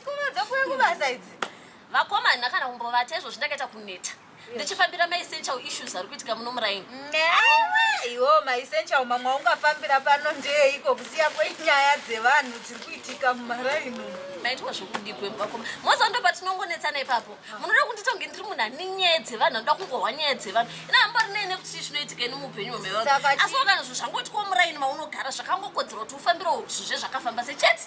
Pfuma dzokuve kubasa idzi. Vakomana kana kumbovata izvo zvindakaita kuneta. Ndichifambira mai essential issues ari kuitika muno muraini. Iwo mai essential mamwe ungafambira pano ndeye iko kusiya kwenyaya dzevanhu dziri kuitika mumaraini. Maitwa zvokudikwe vakoma. Moza ndo patinongonetsana ipapo. Munoda kundita kunge ndiri munhu ane nyaya dzevanhu anoda kungohwa nyaya dzevanhu. Ina hambori nei nekuti chii chinoitika ini muupenyu hwemevanhu. Asi wakana zvinhu zvangoti ko muraini maunogara zvakangokodzera kuti ufambirewo zvezvakafamba sechete.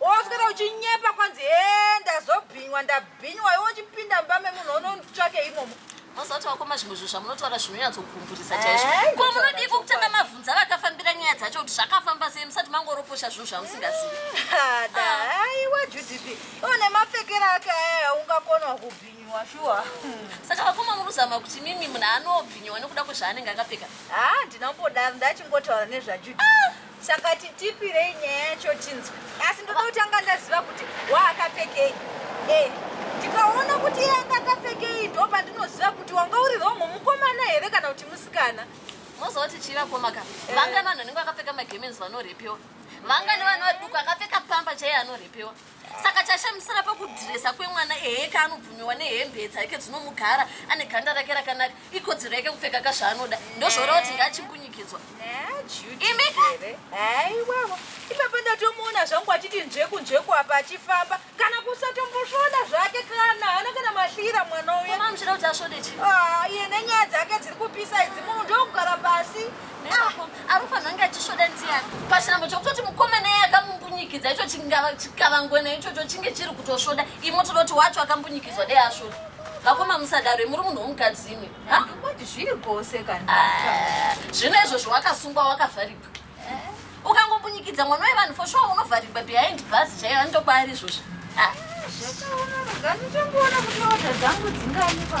Woswera uchinyepa kwanzi hee ndazobhinywa ndabhinywa iwe uchipinda mumba memunhu onotsvake imomo. Mozoti wakoma zvimwe zvinhu zvamunotaura zvinonyatsogumburisa chaizvo. Eh, Ko munodii kokutanga mavhunza vakafambira nyaya dzacho kuti zvakafamba sei musati mangoroposha zvinhu zvamusingazivi. Ah, da, aiwa Judith. Iwe nemapfekero ake aya ungakonwa kubhinywa shuwa. Saka vakoma muruzama kuti mimi munhu anobhinyiwa nekuda kwezvaanenge akapfeka. Ah, ndinombodaro ndachingotaura nezvaJudith. saka titipirei nyaya yacho tinzwe asi ndoda kutanga ndaziva kuti waakapfekei eh, ndikaona kuti iye anga akapfekei ndo pandinoziva kuti wanga uri romho mukomana here kana kuti musikana mozoti chirakomaka eh. vangani vanhu vanenge vakapfeka magemens vanorepewa vangani vanhu vaduku akapfeka pamba chaiye anorepewa saka chashamisira pakudhiresa kwemwana ehe kaanobvumiwa nehembe dzake dzinomugara ane ganda rake rakanaka ikodzero yake kupfeka ka zvaanoda ndozvoora kuti ngachimbunyikidzwa imikaiwavo ipapa ndatomuona zvangu achiti nzveku nzveku apa achifamba kana kusatombosvoda zvake kana hana kana mahlira mwana uyeamchida kuti asvode chii ah, iye nenyaya dzake dziri kupisa idzi munhu ndokugara pasi anofanira kunge achisvoda ndiani pachinambo chekutoti mukoma naye akambunyikidzwa icho chikavangwena ichocho chinge chiri kutosvoda imo tinoti wacho akambunyikidzwa dei asvoda vakoma musadaro muri munhu womukadzi imi zviri gose kana ah, zvino izvozvo wakasungwa wakavharigwa eh. ukangobunyikidza mwana wevanhu for sure unovharigwa behind bus chaiyo anitoba ari izvozvo ah. zvakaona ruganitokuona kuti oda dzangu dzingani pa